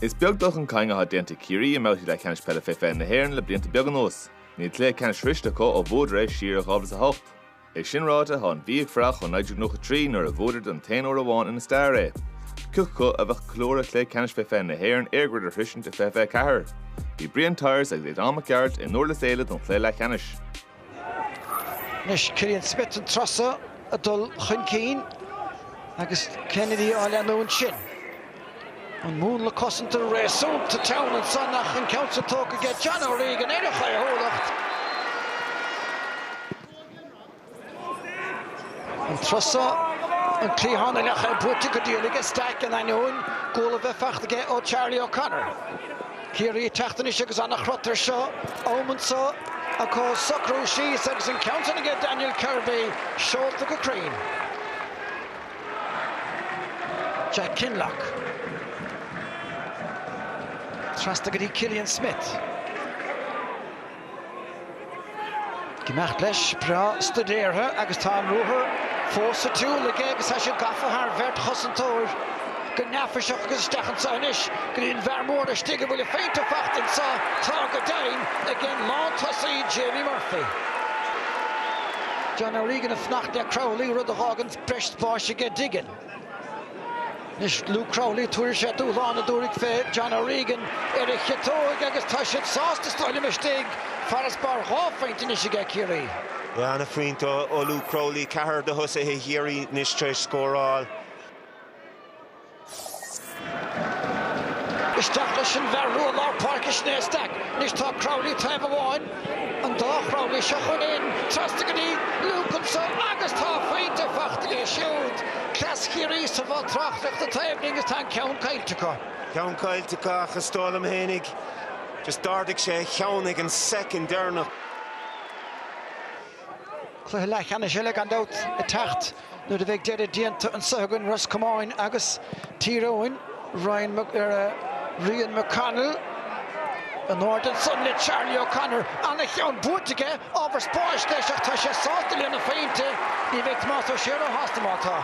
Is beag dul chun cinn athá déanta ag Ciarraí i mbabhtaí leathcheannais peile fé fiche na hÉireann le blianta beaga anuas. Níl cluiche ceannais sroiste acu ó bhuadar é siar i 2008. É sin ráite, thá an Mhí ag fuireach ó 1993 nuair a bhuadar don t-aon uair amháin ina stair é. Cé acu a bheadh ag ceiliúradh Chluiche Ceannais fé fiche na hÉireann EirGrid a shroisint i 2024. Bhí Brian Tyers agus Aodán Mac Gearailt i nDurlas Éile don chluiche leathcheannais. Anois Killian Smyth an turas so ag dul chun cinn agus Kennedy á leanúint sin. An múnla cosanta réasúnta teann ansan ach an ceann sin tógtha aige John O'Regan ar a chaothúlacht. An turas so, an cliathán a leath é buaite go dian aige Stack in ainneoin guala a bheith fachta aige ó Charlie O'Connor. Ciarraí ag teacht anois agus an-chrot ar seo am anso acu socrú síos agus an ceann sin aige Daniel Kirby seolta go cruinn. Jack Kinlough. Trasna go dtí Killian Smyth. Imeacht leis breá stuidéartha agus tá an ruathar fós sa tsiúl aige agus tá sé gafa thar bheirt chosantóir go neafaiseach agus isteach anso anois go dtí an bhfear mór laistigh a bhfuil a phointe fachta anso tráth go deimhin ag an lántosaí Jamie Murphy. John O'Regan ag fanacht le Crowley rud a dh'fhágann breis spáis aige Diggin. Anois Luke Crowley, tabharfaidh sé dúshlán, tabharfaidh fé John O'Regan ar an chiotóig agus tá siad sásta is dóigh liom istigh, farasbarr dhá phointe anois aige Ciarraí. Ana phointe ó Luke Crowley, ceathrar de thosaithe Chiarraí anois tar éis scóráil. Isteach leis an bhfear rua lár páirce sin é Stack anois tá Crowley taobh amháin, an dá Chrowley seo chun cinn, trasna go dtí Luke anso agus tá a phointe fachta aige siúd. Cleas Chiarraí sa bhoth tráchtaireachta taobh linn agus tá an ceann caillte acu. Ceann caillte acu ach is dóigh liom fhéinig just d'ardaigh sé a cheann ag an second deireanach. Cluiche leathcheannais eile gan dabht ag teacht nuair a bheidh deireadh déanta anseo againn, Ros Comáin agus Tír Eoghain. Rian McConnell in airde ansan le Charlie O'Connor. An-cheann buaite aige, ábhar spáis leis ach tá sé sásta lena phointe. Ní bheidh Tomás Ó Sé róshásta má tá.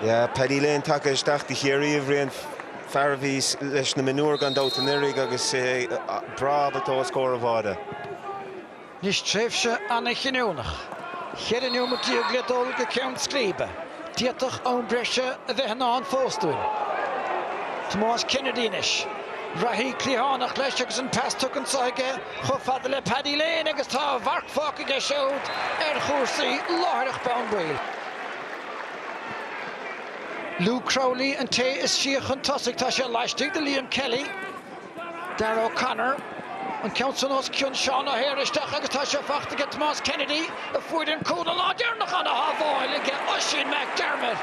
Yeah, Paddy Lane tagtha isteach do Chiarraí a Bhriain, fear a bhí leis na mionúir gan dabht anuraidh agus é breá ábalta os comhair an bháide. Anois tréimhse an-chinniúnach, cheithre neomat déag le dul go ceann scríbe. D'fhéadfadh am breise a bheith i ndán fós dúinn. Tomás Kennedy anois. Reathaí cliathánach leis agus an pas tugtha anseo aige. chomh fada le Paddy Lane agus tá a mharc fágtha aige siúd ar chúrsaí láithreach bonn baill. Luke Crowley an té is sia chun tosaigh, tá sé laistigh de Liam Kelly. Darragh O'Connor an ceann san os cionn Seán O'Hare isteach agus tá sé fachta aige Tomás Kennedy. a fuair an cúl an lá deireanach ana-shábháil aige Oisín McDermott,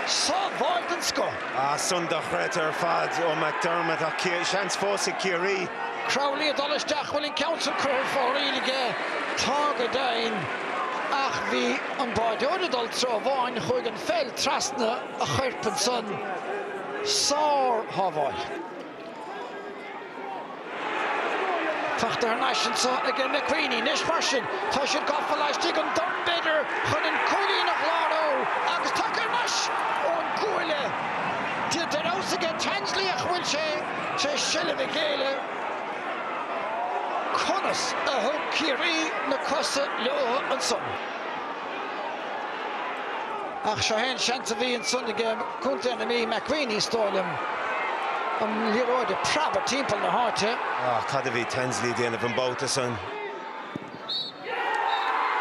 sábháil den scoth. Ah, sin dochreidte ar fad ó McDermott ach seans fós ag Ciarraí. Crowley ag dul isteach, bhfuil an ceann sin curtha ar fóraoil aige? Tá go deimhin, ach bhí an báideoir ag dul treo amháin, chuaigh an pheil trasna a choirp ansan. Sár-shábháil. Fachta thar n-ais anso aige McWeeney anois mar sin. Tá siad gafa laistigh, an dorn b'fhéidir chun an cúilín a chlárú agus tagtha thar n-ais ón gcuaille. Dia de fheabhas aige Tansley ach an bhfuil sé tar éis seilbh a ghéilleadh? Conas a thug Ciarraí na cosa leotha ansan? Ach seo é an seans a bhí ansan aige Co. na Mí, McWeeney is dóigh liom, an liathróid ag preabadh timpeall na háite. Cad a bhí Tansley a dhéanamh an babhta san?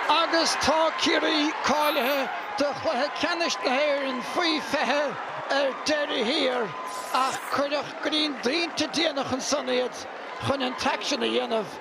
Agus tá Ciarraí cáilithe do chluiche ceannais na hÉireann faoi 20 ar deireadh thiar ach cuireadh go dtí an bpointe déanach ansan iad chun an t-aicsean a dhéanamh.